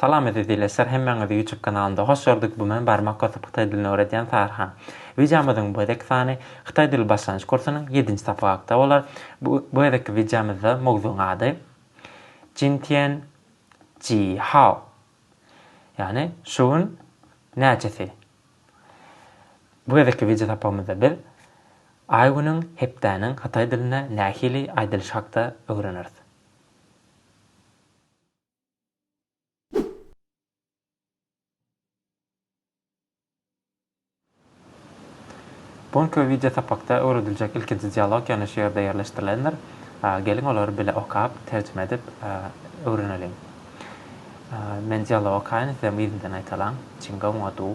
Salam eziz ileçiler hemmäňizi ýutub kanalynda hoş gördük bu men barmak basyp hytaý dilini öwredýän Tarhan. Wideomyzyň bu gezek sany hytaý dili başlangyç kursunyň ýedinji sapagy hakda bolar. Bu bu gezekki wideomyzda mowzugyň ady Jin Tian Ji Hao ýagny şu gün näçesi. Bu gezekki wideo sapagymyzda biz Aý günüň hepdäniň hytaý dilinde nähili aýdylyşy hakda öwreneris. Bu günki wideo sapakda öwrediljek ilkinji dialog ýöne şu ýerde ýerleşdirilendir. Geliň olary bile okap, terjime edip öwreneliň. Men dialogy okaýyn, sizem yzymdan aýtalaň. Çingaw-Maduw.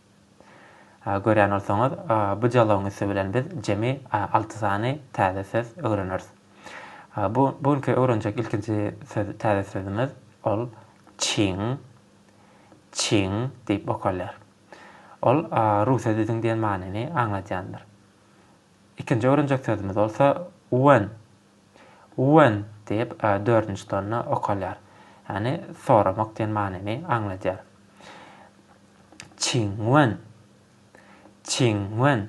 Görýän bolsaňyz, bu dialogyň üsti bilen biz jemi alty sany täze söz öwreneris. Bu günki öwrenjek ilkinji söz, täze sözümiz, ol çiň, çiň diýip okalýar. Ol ruse düzüň diýen manyny aňladýandyr. Ikinji öwrenjek sözümiz bolsa When. When diýip, dördünji tonna okalýar. Ýagny soramak diýen manyny aňladýar. Çingwen. Çingwen.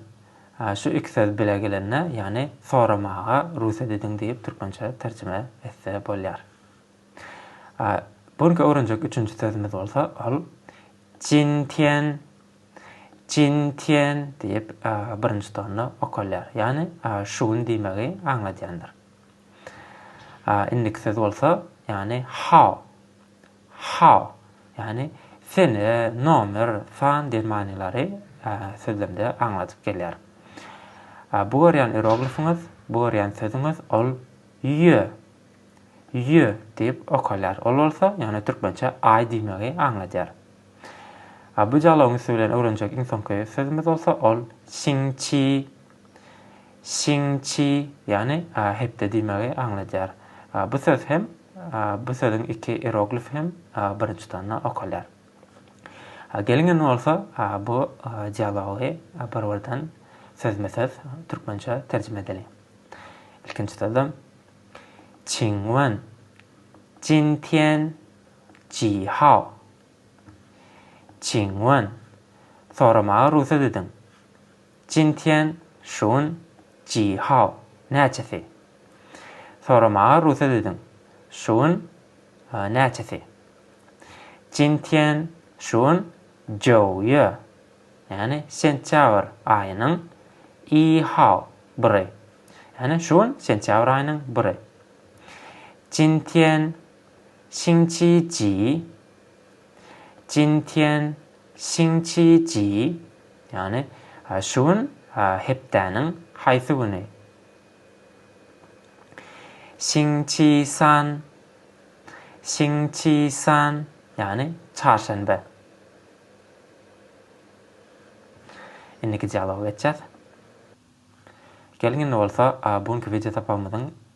Şu iki söz bile gelende, ýagny soramaga rugsat ediň diýip türkmençe terjime etse bolýar. Bu günki öwrenjek üçünji sözümiz bolsa ol Jintian. Jin Tian diýip birinji tonna okalýar. Ýagny şu gün diýmegi aňladýandyr. Indiki söz bolsa, ýagny Hao. Hao, ýagny sene, nomer, san diýen manylary sözlemde aňladyp gelýär. Bu görýän iroglifiňiz, bu görýän sözüňiz ol Ýö. Ýö diýip okalýar. Ol bolsa, ýagny türkmençe aý diýmegi aňladýar. A bu dialogyň üsti bilen öwrenjek iň soňky sözümiz bolsa ol Çiňçi. Çiňçi, ýagny hepde diýmegi aňladýar. Bu söz hem, bu sözüň iki ieroglif hem birinji tonna okalýar. Geliň indi bolsa bu dialogy bir-birden sözme-söz türkmençe terjime edeliň. Ilkinji sözem, Çiňwen, Jintýen. Ji Hao. Çing Wen, Soramaga rugsat ediň. Jin Tian Şun, Ji Hao. Näçesi? Soramaga rugsat ediň. Şun, Näçesi? Jin Tian Şun, Jou Ýue, ýagny sentýabr aýynyň I Hao, biri. Ýagny Şun, sentýabr aýynyň biri. Jin Tian Xinqi Ji, Jin Tian, Xinqi Ji, ýagny şu gün hepdäniň haýsy güni? Xinqi San, Xinqi San, ýagny çarşenbe. Indiki dialoga geçýäs. Geliň indi bolsa bu günki wideo sapagymyzyň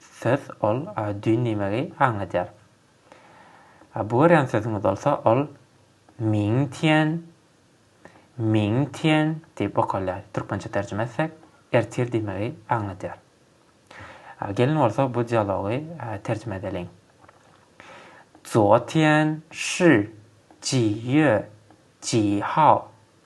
söz ol düýn diýmegi aňladýar. A bu görýän sözüňiz bolsa ol Ming Tian, Ming Tian diýip okalýar. Türkmençe terjime etsek, ertir diýmegi aňladýar. A gelin bolsa bu dialogy terjime edeliň. Zuo Tian Shi Ji Yue Ji Hao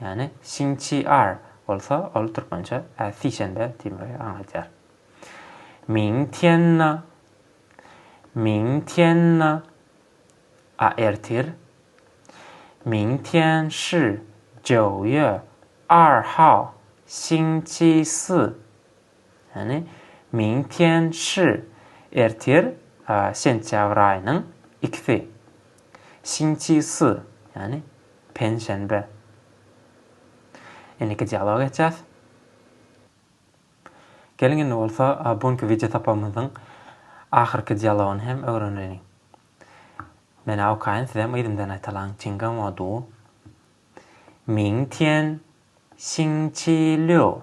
Ýagny Sinçiar bolsa ol türkmençe ä sişenbe diýmegi aňladýar. Ming tian na, Ming tian na, a ertir, Ming tian shi jiao ye, er hao, Sinçi si, Ýagny, Ming Tian Shi, ertir, sentýabr aýynyň ikisi, Xing Qi Si, ýagny, penşenbe. Indiki dialoga geçýäs. Geliň indi bolsa bu günki wideosapamyzyň ahyrky dialogyny hem öwreneliň. Men-ä okaýyn, siz hem yzymdan aýtalaň, Çinga Mo Du. Ming Tian Xing Qi Liu.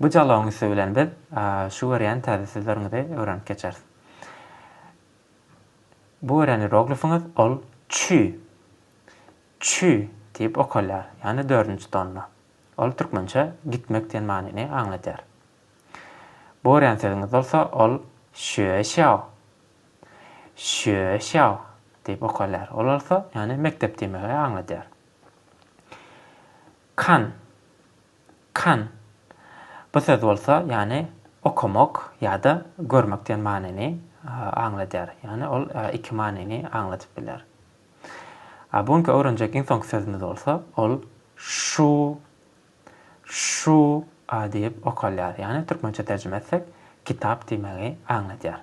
Bu jalawyň üsti bilen biz şu görýän täze sözleriňizi öwrenip geçeris. Bu görýän ieroglifiňiz ol çü. Çü diýip okalýar, ýagny dördünji tonda. Ol türkmençe gitmek diýen manyny aňladýar. Bu görýän sözüňiz bolsa ol şue şýao. Şue şýao diýip okalýar. Ol bolsa, ýagny mekdep diýmegi aňladýar. Kan. Kan. Bu söz bolsa, ýany okamak ýa-da görmek diýen manyny aňladýar. Ýani ol iki manyny aňladyp biler. A bu günki öwrenjek iň soňky sözümiz bolsa, ol şu, şu, a diýip okalýar. Ýani türkmençe terjime etsek, kitap diýmegi aňladýar.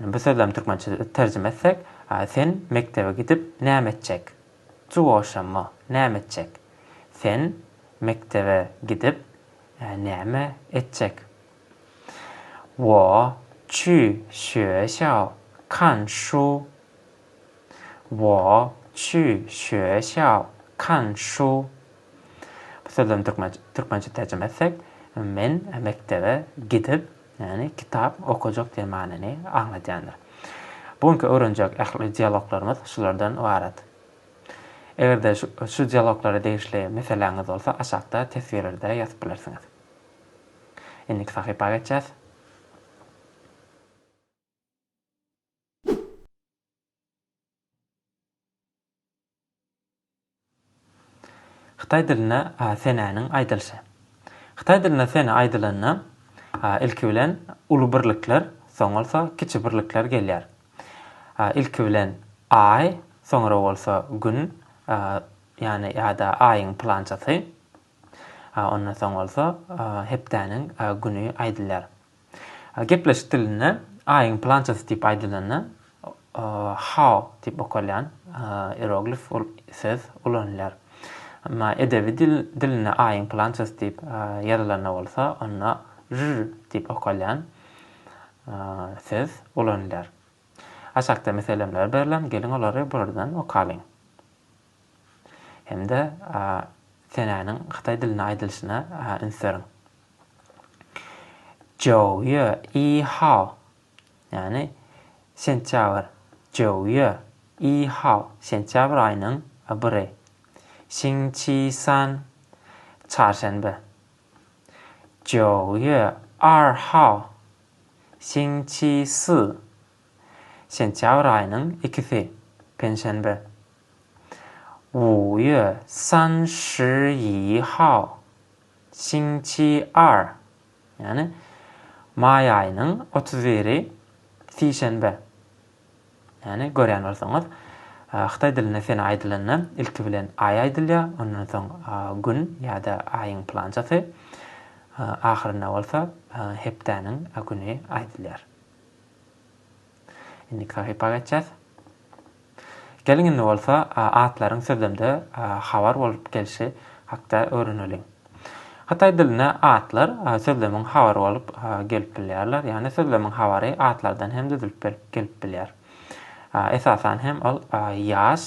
Bu sözlem türkmençe terjime etsek, Sen mekdebe gidip näme etjek? Juwaşamma, näme etjek? Sen mekdebe gidip näme etjek? Wo çü şue şao kan şu Wo çü şue şao kan şu Bu sözlem türkmençe terjime etsek, Men mekdebe gidip Ýagny kitap okajak diýen manyny aňladýandyr. Bu günki öwrenjek ähli dialoglarymyz şulardan ybarat. Eger-de şu dialoglara degişli meseläňiz bolsa aşakda teswirlerde ýazyp bilersiňiz. Indiki sahypa geçýäs. Hytaý dilinde senäniň aýdylyşy. Hytaý dilinde sene aýdylanda, ilki bilen, uly birlikler, soň bolsa kiçi birlikler gelýär. Ilki bilen Aý, soňra bolsa Gün, ýagny ýa-da Aýyň pylançasy, ondan soň bolsa hepdäniň güni aýdylýar. Gepleşik dilinde Aýyň plançasy diýip aýdylanda, Hao diýip okalýan ieroglif söz ulanylýar. Emma edebi dil dilinde Aýyň plançasy diýip ýazylanda bolsa, onda Zhi diýip okalýan söz ulanylýar. Aşakda meselemler berlen, geliň olary buradan okalyň. hem-de senäniň hytaý dilinde aýdylyşyna üns beriň. Zhou Yue Yi Hao, ýagny sentýabr, Zhou Yue Yi Hao, sentýabr aýynyň biri, Xing Qi San, çarşenbe, Zhou Yue Er Hao, Xing Qi Si, Sentýabr aýynyň ikisi, penşenbe. Wu ýue san shi ýi hao, sing çi er, ýagny maý aýynyň otuz biri, sişenbe. Ýagny, görýän bolsaňyz, hytaý dilinde sene aýdylanda, ilki bilen aý aýdylýar, ondan soň gün ýa-da aýyň pylançasy, ahyrynda bolsa hepdäniň güni aýdylýar. Indiki sahypa geçýäs. Geliň indi bolsa atlaryň sözlemde habar bolup gelşi hakda öwreneliň. Hytaý dilinde atlar sözlemiň habary bolup gelip bilýärler, ýagny sözlemiň habary atlardan hem düzülip gelip bilýär. Esasan hem ol ýaş,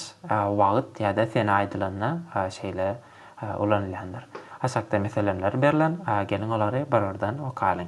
wagt ýa-da sene aýdylanda şeýle ulanylýandyr. Aşakda meselemler berlen, geliň olary bir-birden okalyň.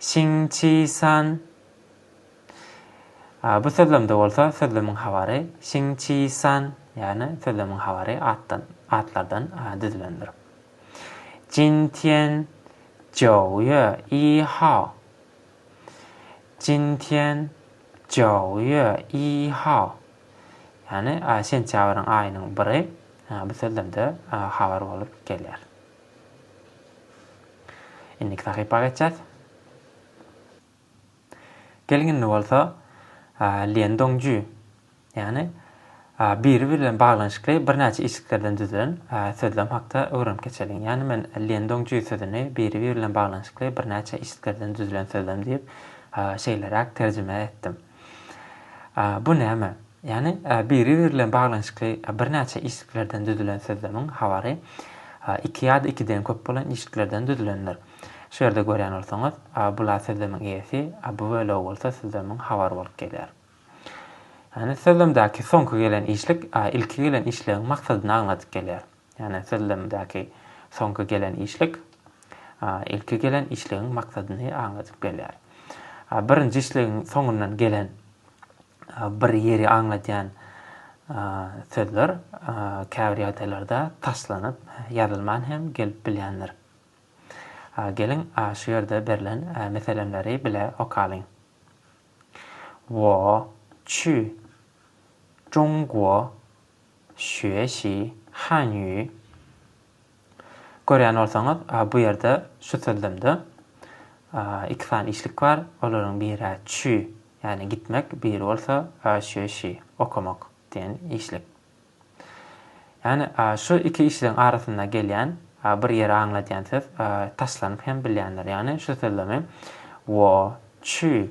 Şiňçisan. Bu sözlemde bolsa sözlemiň habary Şiňçisan, ýagny sözlemiň habary atdan, atlardan düzülendir. Jintian, Joýe, i hao. Jintian, Joýe, i hao. Ýagny şentýabryň aýynyň biri bu sözlemde habar bolup gelýär. Indiki sahypa geçýäs. Geliň indi bolsa Lien Dongju, ýagny biri bilen baglanyşykly birnäçe işliklerden düzülen sözlem hakda öwrenip geçeliň. Ýagny men Lien Dongju sözüni biri bilen baglanyşykly birnäçe işliklerden düzülen sözlem diýip şeýleräk terjime etdim. Bu näme? Ýagny biri-biri bilen baglanyşykly birnäçe işliklerden düzülen sözlemiň habary iki ýa-da ikiden köp bolan işliklerden düzülendir. Şu ýerde görýän bolsaňyz, bul a sözlemiň eýesi, a bu bölegi bolsa sözlemiň habary bolup gelýär. Ýagny sözlemdäki soňky gelen işlik ilki gelen işligiň maksadyny aňladyp gelýär. Ýagny sözlemdäki soňky gelen işlik ilki gelen işligiň maksadyny aňladyp gelýär. Birinji işligiň soňundan gelen bir ýeri aňladýan sözler käbir ýagdaýlarda taslanyp ýazylman hem gelip bilýändir. Geliň, şu ýerde berlen meselemleri bile okalyň. Wo, çü, Jungwo, Şüeşi, Hanýu. Görýän bolsaňyz, bu ýerde şu sözlemde iki sany işlik bar, olaryň biri-ä çü, ýagny gitmek, biri bolsa şüeşi, okamak diýen işlik. Ýagny şu iki işligiň arasynda gelýän bir ýeri aňladýan söz taşlanyp hem bilýändir. Ýagny şu sözlemi wo, çü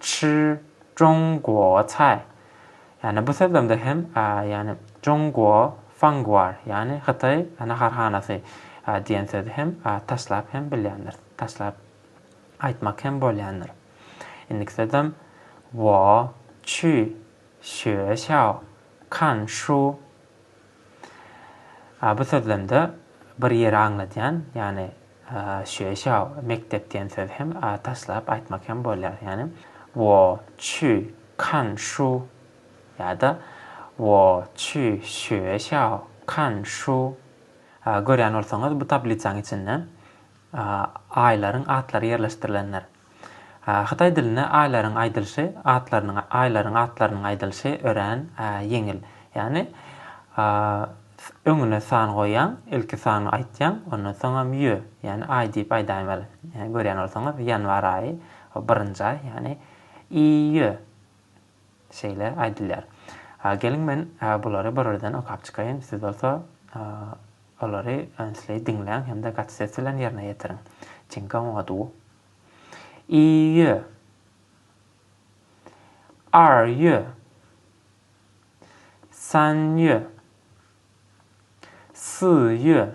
Çy Jong Guo Cai, ýagny bu sözlemde hem, ýagny Jong Guo Fangguar, ýagny Hytaý naharhanasy diýen sözi hem taşlap hem bilýändir, taşlap aýtmak hem bolýandyr. Indiki sözlem Wo Çy Şue Şao Kan Şu. A bu sözlemde bir ýeri aňladýan, ýagny şüe şao, mekdep diýen sözi hem a taşlap aýtmak hem bolýar, ýagny, Wo çü kan şu ýa-da Wo çü şüe şao, kan şu. Görýän bolsaňyz, bu tablisaň içinde aýlaryň atlary ýerleşdirilendir. Hytaý dilinde aýlaryň aýdylyşy, atlarynyň, aýlaryň atlarynyň aýdylyşy örän ýeňil. Ýagny, öňüne san goýýaň, ilki sany aýtýaň, ondan soňam ýö, ýagny aý diýip aýdaýmaly. Ýagny görýän bolsaňyz, ýanwar aýy, birinji aý, ýagny, iýö. Şeýle aýdylýar. Geliň men bulary birden okap çykaýyn, siz bolsa olary ünsli diňläň hem-de gaty ses bilen ýerine ýetiriň. Çiňka oňaduw. Iýýö. Arýö. Sanýö. Syýýö.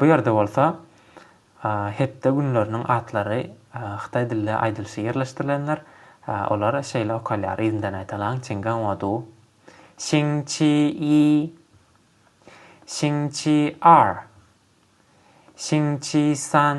Bu ýerde bolsa hepde günleriniň atlary hytaý dilde aýdylyşy ýerleşdirilendir. Olar şeýle okalýar, yzyndan aýdalaň, Çinganwadu, Xingqiyi, Xingqiar, Xingqisan,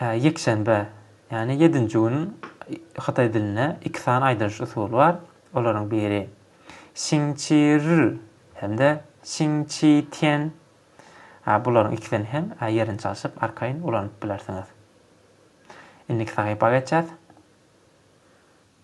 Ýekşenbe, ýagny ýedinji gün hytaý dilinde iki sany aýdylyş usuly bar. Olaryň biri Şiňçi rr hem-de Şiňçi tian. Bularyň ikisini hem ýerini çalşyp arkaýyn ulanyp bilersiňiz. Indiki sahypa geçýäs.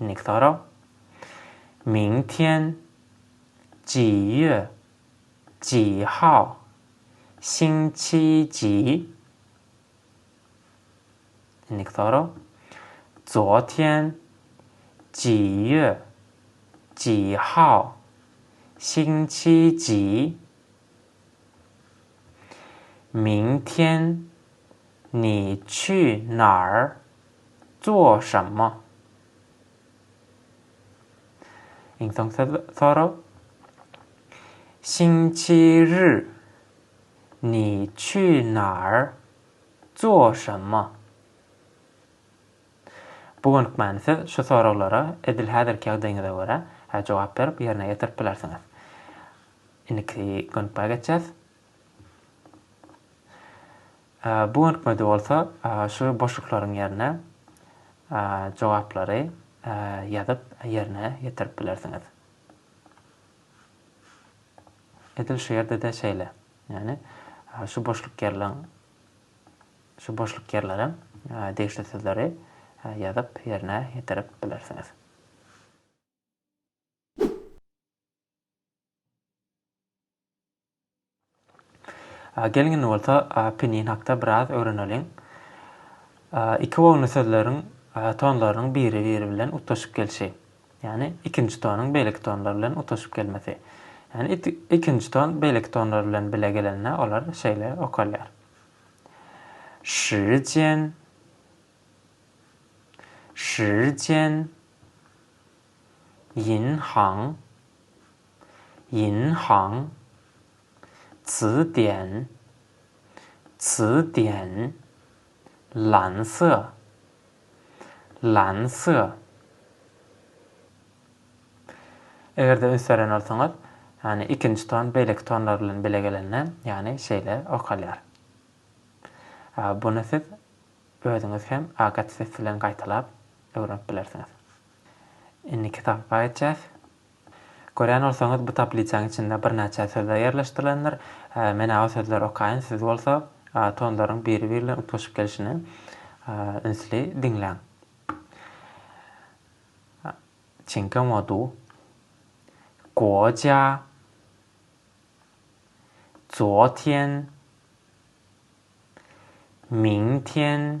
Indiki sorag. Ming tian ji ýue ji hao xing qi ji. Indiki sorag. Zuo tian ji ýue ji hao xing qi ji. Ming tian ni qi nar Joşamma. Iň soňky sorag. Sinçir. Ni çü nar. Joşamma. Bu günk many siz şu soraglara edil häzirki ýagdaýyňyza görä jogap berip ýerine ýetirip bilersiňiz. Indiki günk bä geçýäs. Bu görnükmede bolsa şu boşluklaryň ýerine jogaplary ýazyp ýerine ýetirip bilersiňiz. Edil şu ýerde-de şeýle. Ýagny şu boşluk ýerleň şu boşluk ýerlere degişli sözleri ýazyp ýerine ýetirip bilersiňiz. Geliň indi bolsa Pinin hakda biraz öwreneliň. Iki bogunly sözleriň tonlarynyň biri-biri bilen utgaşyp gelşi. Ýagny ikinji tonuň beýleki tonlar bilen utgaşyp gelmesi. Ýagny ikinji ton beýleki tonlar bilen bile gelende olar şeýle okalýar. Şijian. Şijian. Ýin Han, Ýin Han, Cy Dian, Cy Dian, Lan Cy, Lan Cy. Eger-de üns beren bolsaňyz, ýagny ikinji ton beýleki tonlar bilen bile gelende, ýagny şeýle okalýar. Buny siz özüňiz hem agat ses bilen gaýtalap öwrenip bilersiňiz. Indiki tapba geçýäs. Görýän bolsaňyz bu tablisaň içinde birnäçe sözler ýerleşdirilendir. Menä o sözleri okaýyn siz bolsa tonlaryň biri biri bilen utgaşyp gelişini ünsli diňläň. Çiňke modu. Goja. Zotýen. Miňtýen.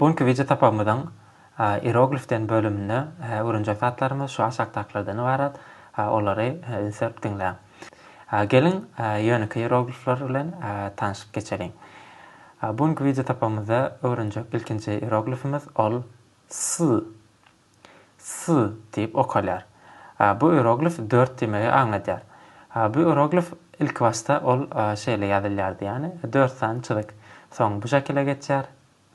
Bu günki wideo sapagymyzyň Ieroglifden bölüminde öwrenjek zatlarymyz şu aşakdakylardan ybarat. Olary ünsüp diňläň. Geliň, ýönekeý ieroglifler bilen tanşyp geçeliň. Bu günki wideo sapagymyzda öwrenjek ilkinji ieroglifimiz ol S. S diýip okalýar. Bu ieroglif dört diýmegi aňladýar. Bu ieroglif ilkibaşda ol şeýle ýazylýardy, ýagny dört sany çyzyk. Soň bu şekile geçýär.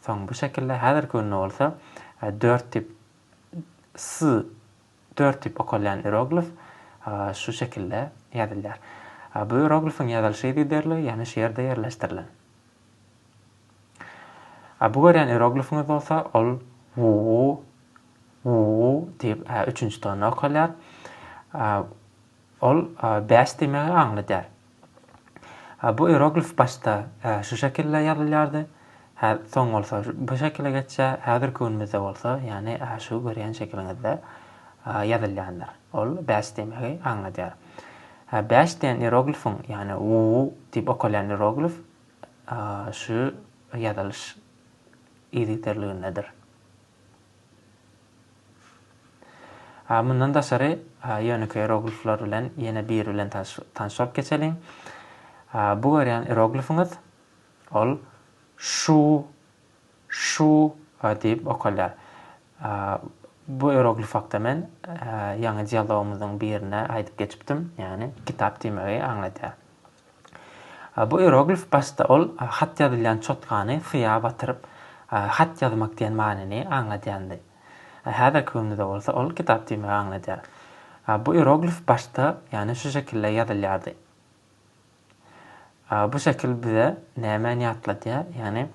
Soň bu şekilde, häzirki günde bolsa dört diýip S dört diýip okalýan ieroglif şu şekilde ýazylýar. Bu ieroglifiň ýazylyş yzgiderligi ýene şu ýerde ýerleşdirilen. A bu görýän ieroglifiňiz bolsa ol wu wu diýip üçünji tony okalýar. Ol bäş diýmegi aňladýar. Bu ieroglif başda şu şekilde ýazylýardy. Hä, soň bolsa bu şekile geçýär. Häzirki günümizde bolsa, ýagny şu görýän şekiliňizde ýazylýandyr. Ol bäş diýmegi aňladýar. Hä, bäş diýen ieroglifiň, ýagny wu diýip okalýan ieroglif şu ýazylyş yzygiderligindedir. A, mundan daşary, ýönekeý ieroglifler bilen ýene biri bilen tanyş bolup geçeliň. A, bu görýän ieroglifiňiz, ol şu Şu a diýip okalýar. Bu ieroglif hakda men ýaňy dialogymyzyň birinde aýdyp geçipdim, ýagny kitap diýmegi aňladýar. Bu ieroglif başda ol hat ýazylýan çotkany suýa batyryp, hat ýazmak diýen manyny aňladýandy. Häzirki günde-de bolsa ol kitap diýmegi aňladýar. Bu ieroglif başda, ýagny şu şekilde ýazylýardy. Bu şekil bize nämäni ýatladýar? Ýagny,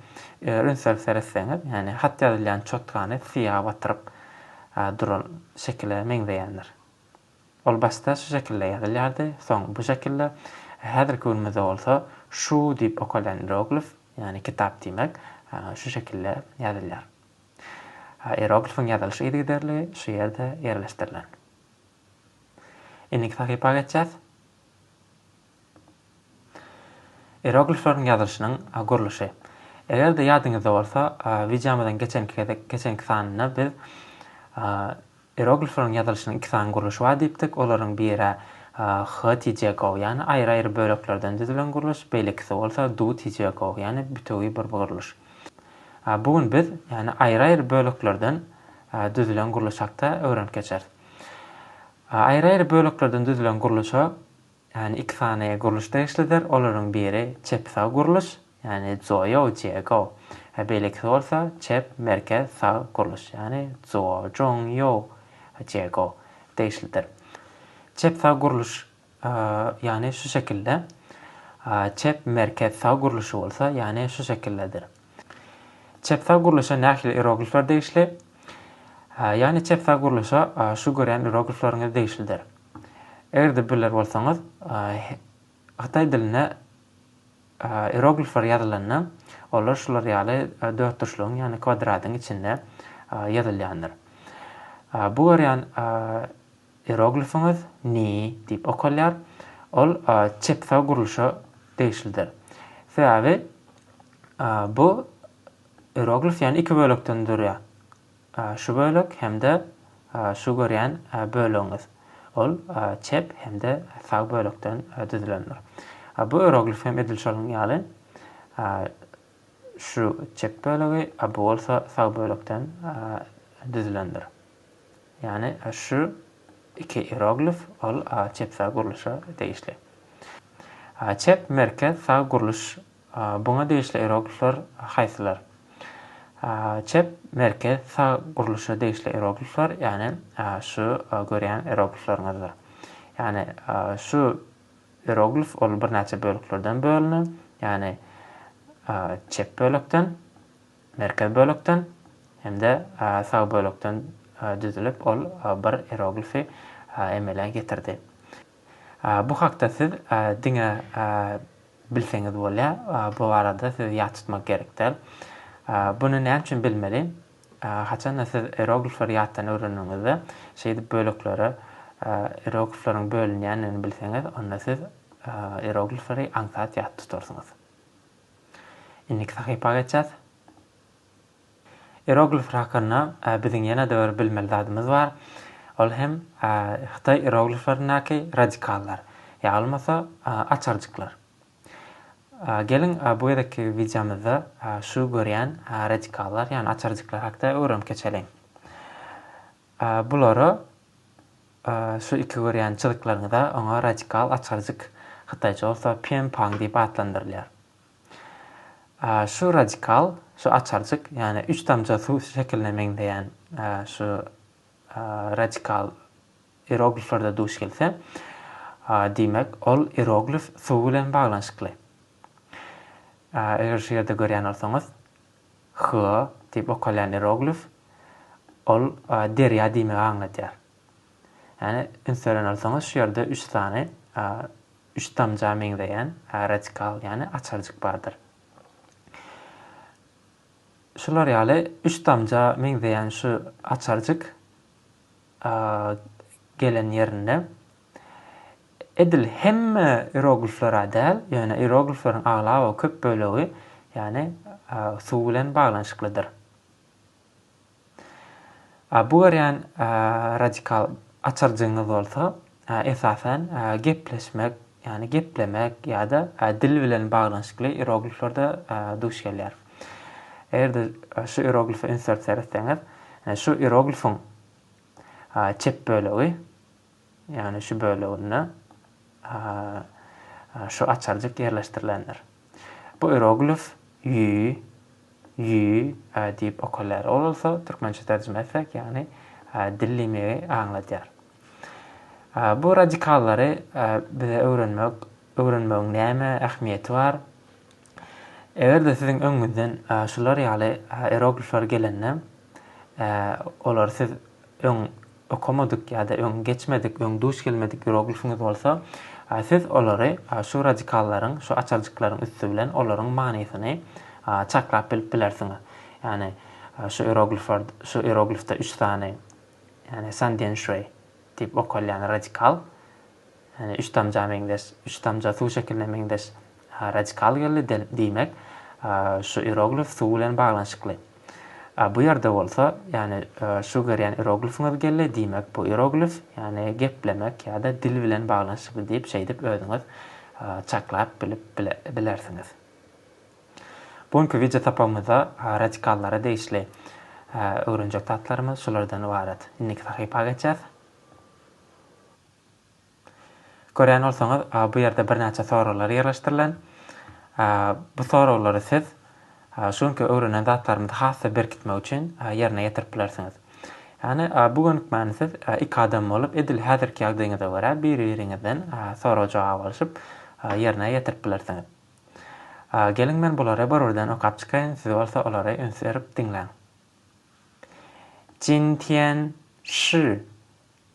eger ünsli seretseňiz, ýagny hat ýazylýan çotkany syýaha batyryp duran şekile meňzeýändir. Ol başda şu şekilde ýazylýardy, soň bu şekilde, häzirki günümizde bolsa şu diýip okalýan ieroglif, ýagny kitap diýmek, şu şekilde ýazylýar. Ieroglifiň ýazylyşy yzygiderli şu ýerde ýerleşdirilen. Indiki sahypa geçýäs. Ieroglifleriň ýazylyşynyň gurluşy. Eger-de ýadyňyzda bolsa, wideomyzyň geçenki gezek, geçenki sanynda biz ieroglifleriň ýazylyşynyň iki sany gurluşy bar diýipdik. Olaryň biri H-T-J-Go, ýagny aýry-aýry böleklerden düzülen gurluş, beýlekisi bolsa Do-T-J-Go, ýagny bütewi bir gurluş. Bu gün biz, ýagny aýry-aýry böleklerden düzülen gurluş hakda öwrenip geçeris. Aýry-aýry böleklerden düzülen gurluşa, ýagny iki sany gurluş degişlidir. Olaryň biri çep-sag gurluş, ýagny zuo-ýou, jie-gou, we beýlekisi bolsa çep, merkez, sag gurluş, ýagny zuo-jong-ýou, jie-gou, degişlidir. Çep-sag gurluş ýagny şu şekilde, çep, merkez, sag gurluşy bolsa, ýagny şu şekildedir. Çep-sag gurluşa nähili ieroglifler degişli? Ýagny çep-sag gurluşa şu görýän ieroglifleriňiz degişlidir. Eger-de biler bolsaňyz, hytaý dilinde ieroglifler ýazylanda, olar şular ýaly dörtburçlugyň, ýagny kwadradyň içinde ýazylýandyr. Bu görýän Ieroglifiňiz Ni diýip okalýar. Ol çepsag gurluşa degişlidir. Sebäbi bu ieroglif ýany iki bölekden durýar. Şu bölek hem-de şu görýän bölegiňiz. Ol çep hem-de sag bölekden düzülendir. Bu ieroglif hem edil şonuň ýaly. Şu çep bölegi, a bu bolsa sag bölekden düzülendir. Ýagny şu iki ieroglif ol çep-sag gurluşa degişli. Çep, merkez, sag gurluş buňa degişli ieroglifler haýsylar? Çep, merkez, sag gurluşa degişli ieroglifler ýagny şu görýän ieroglifleriňizdir. Ýagny şu ieroglif ol birnäçe bölüklerden bölünen, ýagny çep bölekden, Merkez bölekden hem-de sag bölekden düzülip, ol bir ieroglifi emele getirdi. Bu hakda siz diňe bilseňiz bolýar, bu barada siz ýat tutmak gerek däl. Buny näme üçin bilmeli? Haçan-da siz ieroglifleri ýatdan öwreneniňizde, şeýdip böleklere ieroglifleriň bölünýändigini bilseňiz, onda siz ieroglifleri aňsat ýat tutarsyňyz. Indiki sahypa geçýäs. Ieroglif hakynda biziň ýene-de bir bilmeli zadymyz bar. Ol hem hytaý ierogliflerindäki radikallar, ýa bolmasa açarjyklar. Geliň bu gezekki wideomyzda şu görýän radikallar, ýagny açarjyklar hakda öwrenip geçeliň. Bulary Şu iki görýän çyzyklaryňyza oňa radikal açarjyk, hytaýça bolsa pian pang diýip atlandyrylýar. Şu radikal, şu açarjyk, ýagny üç damja suw şekiline meňzeýän şu radikal ierogliflerde duş gelse, diýmek, ol ieroglif suw bilen baglanyşykly. Eger şu ýerde görýän bolsaňyz, Hla diýip okalýan ieroglif, ol derýa diýmegi aňladýar. Ýagny, üns beren bolsaňyz, şu ýerde üç sany üç damja meňzeýän radikal, ýagny açarjyk bardyr. Şular ýaly üç damja meňzeýän şu açarjyk gelen ýerinde, edil hemme ieroglifler-ä däl, ýöne ieroglifleriň aglaba köp bölegi, ýagny, suw bilen baglanyşyklydyr. Bu görýän radikal açarjygyňyz bolsa, esasan, gepleşmek, ýagny geplemek ýa-da dil bilen baglanyşykly ierogliflerde duş gelýär. Eger-de şu ieroglife üns berip seretseňiz, şu ieroglifiň çep bölegi, Ýagny şu böleginde şu açarjyk ýerleşdirilendir. Bu ieroglif ýü, ýü, e diýip okalýar. Ol bolsa türkmençe terjime etsek, ýagny dillimegi aňladýar. Bu radikallary bize öwrenmek, öwrenmegiň näme ähmiýeti bar? Eger-de siziň öňüňizden şular ýaly ieroglifler gelende, olar siz öň okamadyk ýa-da öň geçmedik, öň duş gelmedik ieroglifiňiz bolsa, siz olary şu radikallaryn, şu açarjyklaryň üsti bilen olaryň manysyny çaklap bilip bilersiňiz. Ýagny şu ieroglifler, şu ieroglifde üç sany, ýagny Sandian Şuý diýip okalýan radikal, Ýani üç damja meňzeş, üç damja suw şekiline meňzeş radikal geldi, diýmek, şu ieroglif suw bilen baglanyşykly. Bu ýerde bolsa, ýani şu görýän ieroglifiňiz geldi, diýmek, bu ieroglif, ýani geplemek ýa-da dil bilen baglanyşykly diýip, şeýdip özüňiz çaklap bilip bilersiňiz. Bu günki wideo sapagymyzda radikallara degişli öwrenjek zatlarymyz şulardan ybarat. Indiki sahypa geçýäs. Görýän bolsaňyz, bu ýerde birnäçe soraglar ýerleşdirilen. Bu soraglary siz şu günki öwrenen zatlarymyzy has-da berkitmek üçin ýerine ýetirip bilersiňiz. Ýagny, bu gönükmäni siz iki adam bolup, edil häzirki ýagdaýyňyza görä biri-biriňizden sorag-jogap alşyp ýerine ýetirip bilersiňiz. Geliň, men bulary bir-birden okap çykaýyn, siz bolsa olary üns berip diňläň. Jin Tian Shi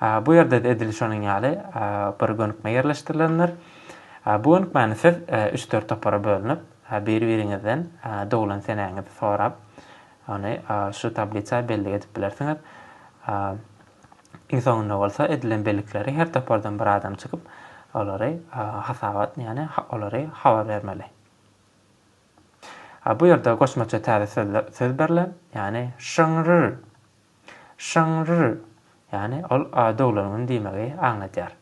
Bu ýerde-de edil şonuň ýaly bir gönükme ýerleşdirilendir. Bu gönükmäni siz üç-dört topara bölünip, bir-biriňizden doglan senäňizi sorap, ony şu tablisa bellik edip bilersiňiz. Iň soňunda bolsa edilen bellikleri her topardan bir adam çykyp, olary hasabat, ýagny olary habar bermeli. Bu ýerde goşmaça täze söz berilen, ýagny şyňryr Şyňňrr, ýagny ol doglan gün diýmegi aňladýar.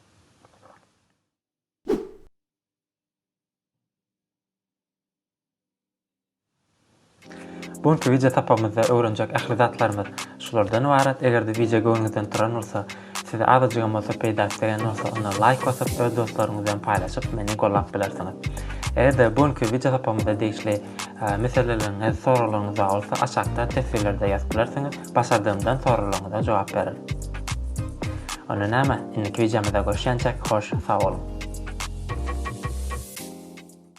Bu günki wideo sapagymyzda öwrenjek ähli zatlarymyz şulardan ybarat. Eger-de wideo göwnüňizden turan bolsa, Size azajygam bolsa peýdasy degen bolsa onda laýk basyp öz dostlaryňyz bilen paýlaşyp meni gollap bilersiňiz. Egerde bu günki wideo sapamyza degişli meseleleriňiz, soraglaryňyz bar bolsa aşakda teswirlerde ýazyp bilersiňiz, başardygymdan soraglaryňyza jogap bererin. Onda näme, indiki wideomyzda görüşýänçäk hoş sag boluň.